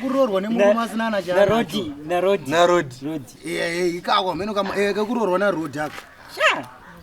kuroorwa nemurume asina na charoti narodi narodi ikako hameno kama eh, kakuroorwa narodi ako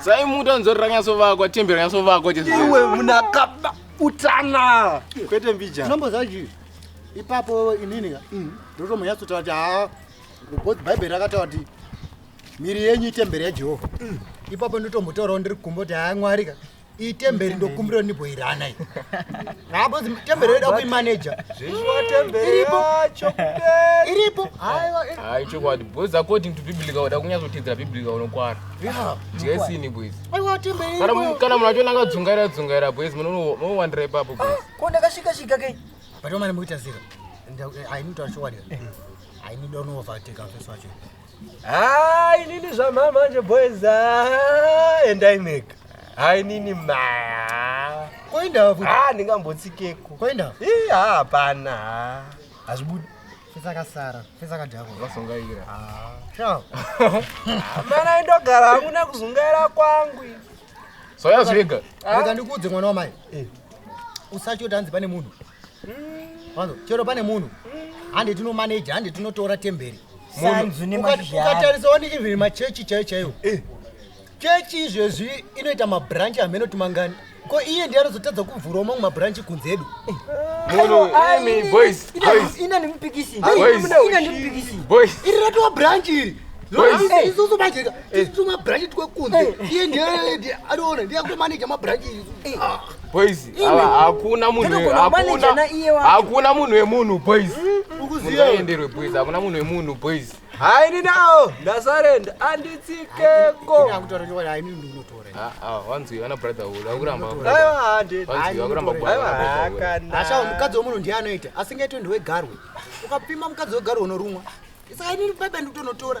sai muti anzori ranyasovakwa tembi ranyasovakwa iwe munakaba utana kwete mbija nombo zvaji ipapo inini ka mm. ndotomanyatsotaura kuti haa because bhaibheri rakataura kuti miri yenyu itemberi yajehovha mm. ipapo ndotombotaurawo ndiri kumbo kuti haa mwari ka iyi temberi ndokumbiro niboirana iyi habozi temberi yoda kuimaneja iripo hayi chokwadi boys according to biblica uda kunyatsoteedzera biblica unokwara jesini boys kana munhu achionanga dzungaira dzungaira boys munowandira ipapo boys ah, ko ndakasvika svika kei but omane mukuita zero ainitaura chokwadi ainida unovateka feso wacho Haa inini zvamhaa manje boys haa endai mega. Haa inini maa. Koinda futi. Haa ndingambotsikeko. Koinda. Ii haa hapana haa. Hazvibudi. Fesa kasara. Fesa kadhako. Vasongaira. Haa. Shaa. Mana indogara hangu nekuzungaira kwangu. Soya zvega. Rega ndikuudze mwana wamai. Eh. Usatyo tanzi pane munhu. Wanzo, chero pane munhu hande tinomaneja hande tinotora temberi Sanzu nemazhizha. ukatarisa wani even machechi chaiyo chaiwo chechi izvezvi inoita mabranch hameno timangani ko iye ndiye anozotadza kuvhurawo mamwe mabranch kunze edu Munhu, imi, boys, boys. ina nemupikisi Boys. ina nemupikisi Boys. iri ratova branch iri Boys. Eh. isusu manje tituma branch twekunze iye ndiye ndiye- anoona ndiye akutomaneja mabranch isu Ah. Boys, hakuna munhu hakuna hakuna munhu wemunhu boys. Ukuziya enderwe boys, hakuna munhu wemunhu boys. Hayi ni nawo ndasarenda anditsikeko. Akutorekewa hayi ni ndinotora. Ah ah, wanzi ana brother ulo akuramba. Hayi hande. Wanzi akuramba bwana. Asha mukadzi womunhu ndiye anoita, asingaitwe ndiwe garwe. Ukapima mukadzi wegarwe unorumwa. Saka ini baba ndikutonotora.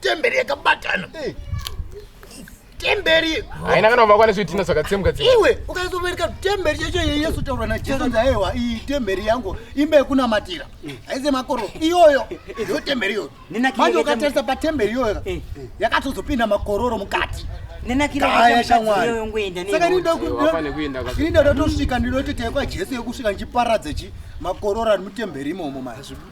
temberi yakabatana eh. temberi haina kana kuva kwane zvitina zvakatsemka iwe ukaizovereka temberi yacho yeyesu taura najesu nzaewa iyi temberi yangu imba yekunamatira eh. haize makoro iyoyo yo temberi iyoyo manje ukatarisa patemberi iyoyo eh. yakatozopinda makororo mukati nenakiraya shamwarisaka ndinida ndatosvika ndinoti teekwa jesu yekusvika ndichiparadza chi makororo ari mutemberi imomo mazvibuda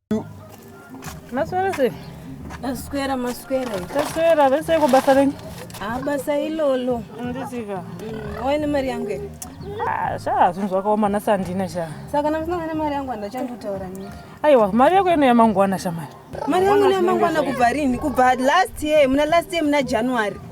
Maswera sei? Maswera maswera. Taswera vese iko basa renyu? Ah basa ilolo. Ndisika. Mm, Waine mari yangu here? Ah, sha zvinhu zvakaoma nhasi handina sha. Saka namusina ne mari yangu handachandotaura nini. Aiwa mari yako ino yamangwana shamai. Mari yangu ine yamangwana kubva rini? Kubva last year, muna last year muna January.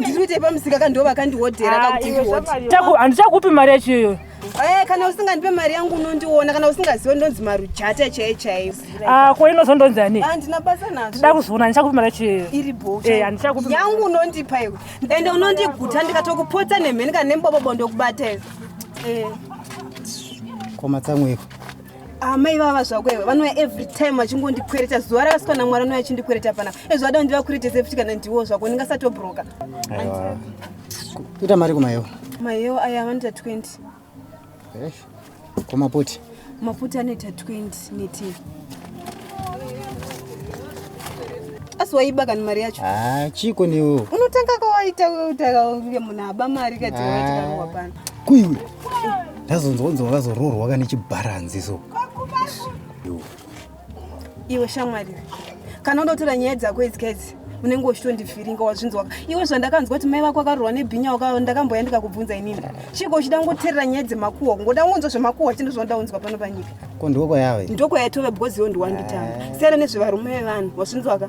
ndiri kuitei pamusika ka ndo vakandihodhera ah, kakutiako handichakupi mari yacho iyoyo eh, kana usingandipe mari yangu unondiona kana usingaziwe ndonzi marujata chaiyo chaiyo ah, ko inozondonzi ani handina ah, basa nazvo ndida kuzoona handichakupi mari yacho iyoyo iri bohandichakupi eh, yangu unondipa iwe ende unondiguta ndikatokupotsa nemheni kana nembobobo ndokubata iwe eh. komatsamweko amai vava zvako iwe vanouya every time vachingondikwereta zuva rakasika namwari anouya achindikwereta pana ezvo ada ndiva kuretese futi kana ndiwo zvako ndingasatobroka kuita mari kumayewo mayewo aya vanoita 20 kumaputi maputi anoita 20 neti asi waiba kani mari yacho ah, chiko newo unotanga kawaita utakaunge munhu aba mari kati waitikawa ah. pana kuiwe ndazonzwa kunzi wakazoroorwa ka nechibharanzi so iwe shamwari kana unotora nyaya dzako idzi kaidzi unenge uchitondifiringa wazvinzwaka iwe zvandakanzwa kuti mai vako akarurwa nebhinya waka ndakamboya ndikakubvunza inini chiko uchida kungoterera nyaya dzemakuhwa kungoda kungonzwa zvemakuhwa chino zvanoda kunzwa pano panyika ko ndoko yave ndoko yaitove because iwe ndiwanditanga eh. siyana nezvevarume vevanhu wazvinzwaka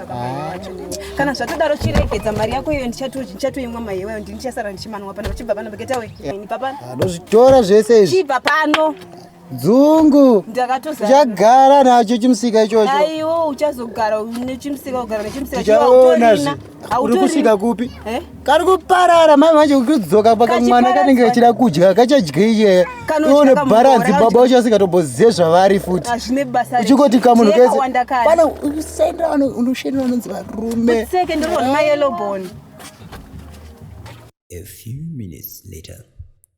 kana zvatodaro chiregedza mari yako iyo ndichatoimwa mai iwayo ndini ndichasara ndichimanwa pano chibva pano begetawe nibva pano anozvitora zvese izvi chibva pano dzungu ndakatochagara nacho chimusika ichocho aiwo uchazogara nechimusika kugara nechimusika chaona uri kusvika kupi eh? kari kuparara mai manje kudzoka paka mwana kanenge kachida kudya kachadyeie ione bharanzi baba wacho asingatobozive zvavari futi uchingoti kamunhu kese pana usaendera unoshendera vanonzi varume A few minutes later.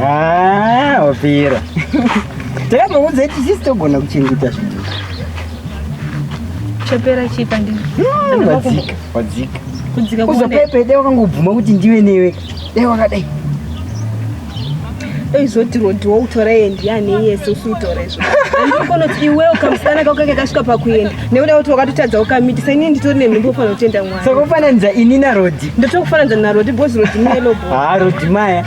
Ah, wapera. Takamuudza kuti sisi togona kuchengeta zvinhu. Chapera chipa ndini. Hmm, wadzika, wadzika. Kudzika kuone. Uzopepe dai wakangobvuma kuti ndiwe newe. Dai wakadai. Eizoti rodi woutora yendi yane yese usiutora izvo. Anokona kuti iwewe kamusana kako kakasvika pakuenda. Nekuda kuti wakatotadza ukamitisa ini nditori nenhumbu ufanira kutenda mwana. Saka ufananidza ini naRodi. Ndotokufananidza naRodi because Rodi melo bho. Ah, Rodi maya.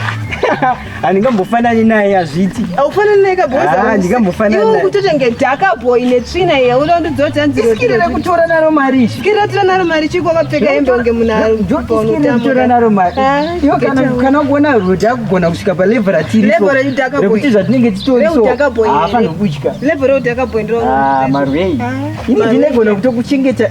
handingambofanani naye hazviti aufanani naye kabhohandingambofanani ah, kutoti ngedhaka boy netsvina ye unondidzoja nzirosikirira kutora naro mari sikirira tora naro mari chiko vakapfeka hembe unge munhuakutora naro mari ah, iwo kana kuona roti akugona kusvika palevel ratirikuti zvatinenge titorisoafanokudya level reudhaka boy ndiro ah, marwei ini ndinegona kutokuchengeta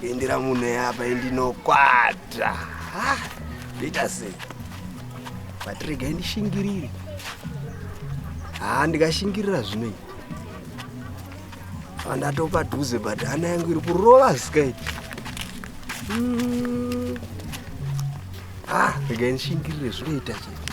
kuindira munhu eapa indinokwata ndoita sei but regai ndishingirire haa ndikashingirira zvino iyi andatopa dhuze but hana yangu iri kurova sky hmm. ah regai ndishingirire zvinoita chete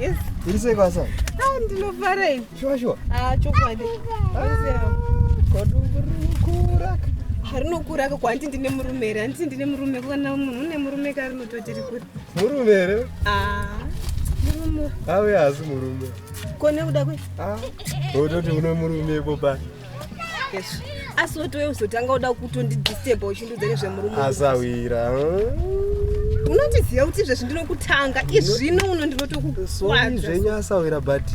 Yes. Iri sei kwasa? Ah, ndinofara ini. Sure sure. Ah, chokwadi. Ah, Kodungurukura. Harinokura ka kwanti ndine murume here handiti ndine murume kana munhu une murume ka rinototi rikuri murume here ah, murume ave haasi murume ko nekuda kwe ah, ototi une murume ipo pai asi woti we uzotanga uda kutondidisturba uchindiudza nezvemurume asawira unotiziva kuti izvezvi ndinokutanga izvino uno ndinotokukwazvenyu asawira but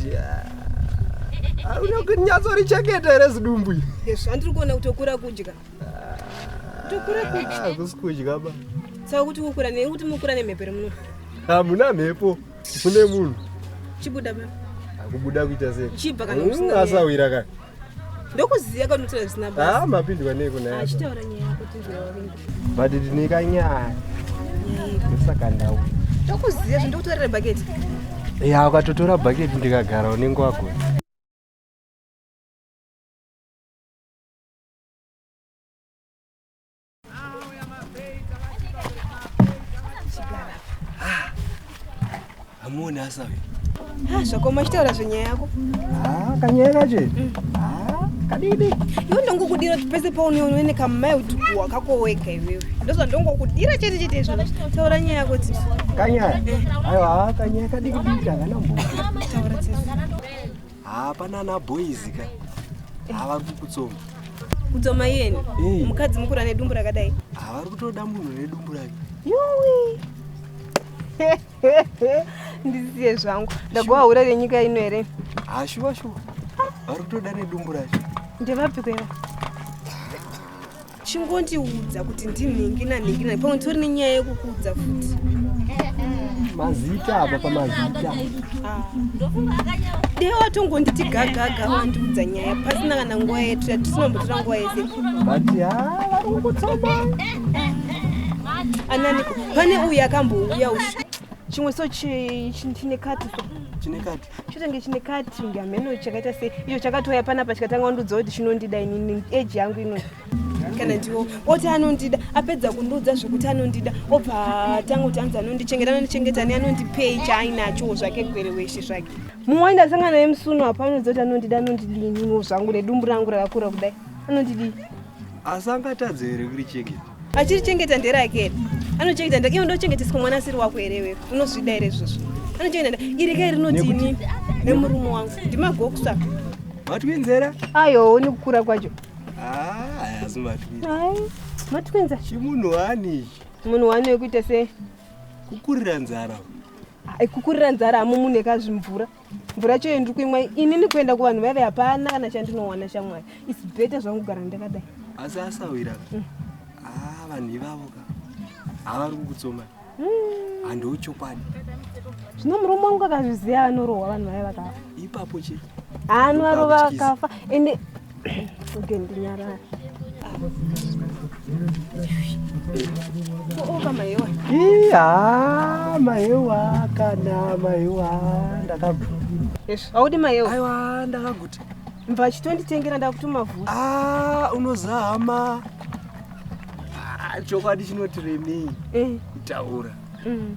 ah, unokunyatsouricheketa here zidumbu izvi andiri kuona kuti okura kudya tokura kudya ah, kusi kudya ba saka kuti kukura nekuti mukura nemhepo remuno hamuna mhepo ah, kune munhu chibuda ma akubuda kuita sei chibva kana usina nyaya. asawira ka ndokuziya kana unotaura zvisina basa ah mapindwa nei kuna yako achitaura nyaya yako tinzwirawavinga but ndine kanyaya ndosaka ndau ndokuziya zve ndokutaurira bhaketi ya ukatotora bhaketi ndikagara unenge wagona hamuoni asa ah, zvako machitaura zvenyaya yako ah, kanyaya kacho mm. ah, kadidi iwe ndongokudira kuti pese paunoone nekamai kuti kuwa kakoweka iwewe ndozva ndongokudira chete chete izvo taura nyaya yako tisi kanyaya eh. aiwa kanyaya kadikidiki hakanambo taura tisi haa pana ana boys ka haa vari kukutsoma kudzoma iyeni Hey. mukadzi mukura nedumbu rakadai haa vari kutoda munhu nedumbu rake yuwi ndisiye zvangu ndagowa hura renyika ino here haa shuwa shuwa vari kutoda nedumbu racho ndevapiko iva chingondiudza kuti ndinhingina nhingina pamwe tori nenyaya yekukuudza futi mazita apa pamazita ah. dee watongonditi gagaga wandiudza nyaya pasina kana nguva yetu yatisinambotora nguva yese but ha ah, vari kungotsoma ananiko pane uyu akambouya ushu chimwe so chine kati so chine kati chotange chine cutting hameno chakaita sei icho chakatouya panapa chikatanga kundiudza kuti chinondida inini age yangu ino kana ndiwo oti anondida apedza kundiudza zvekuti anondida obva atanga kuti anzi anondichengeta anondichengeta ne anondipei chaainachowo zvake gwere weshe zvake mumwe waenda asangana naye musuno apa anondiudza kuti anondida anondidii ininiwo zvangu nedumbu rangu rakakura kudai anondidii asi angatadze here kurichengeta achirichengeta nderake here anochengeta nderake iwe ndochengeteswa mwana asiri wako here iwewe unozvida here izvozvo anochengeta nderake iri kai rinoti ini nemurume wangu ndimagokusa matwinzera ayo ni kukura kwacho hazi ah, matwinza matwinza chimunhu wani ichi munhu wani wekuita sei kukurira nzara ah, kukurira nzara hamumunhu ekazvimvura mvura yacho yendiri kuimwa inini kuenda kuvanhu vaive hapana kana chandinowana shamwari is better zvangu kugara ndakadai asi asawira ka mm. ah, vanhu ivavo ka havari kukutsoma mm. handiwo chokwadi zvino murume wangu akazviziva anorohwa vanhu vaive vakafa ipapo chete anovarova akafa ende Iya, maewa kana maewa ndakagu. Yes, audi maewa. Aiwa ndakaguti. Mva chitonditengera ndakutuma vhu. Ah, unozama. Ah, chokwadi chinoti remei. Eh. Taura. Mm.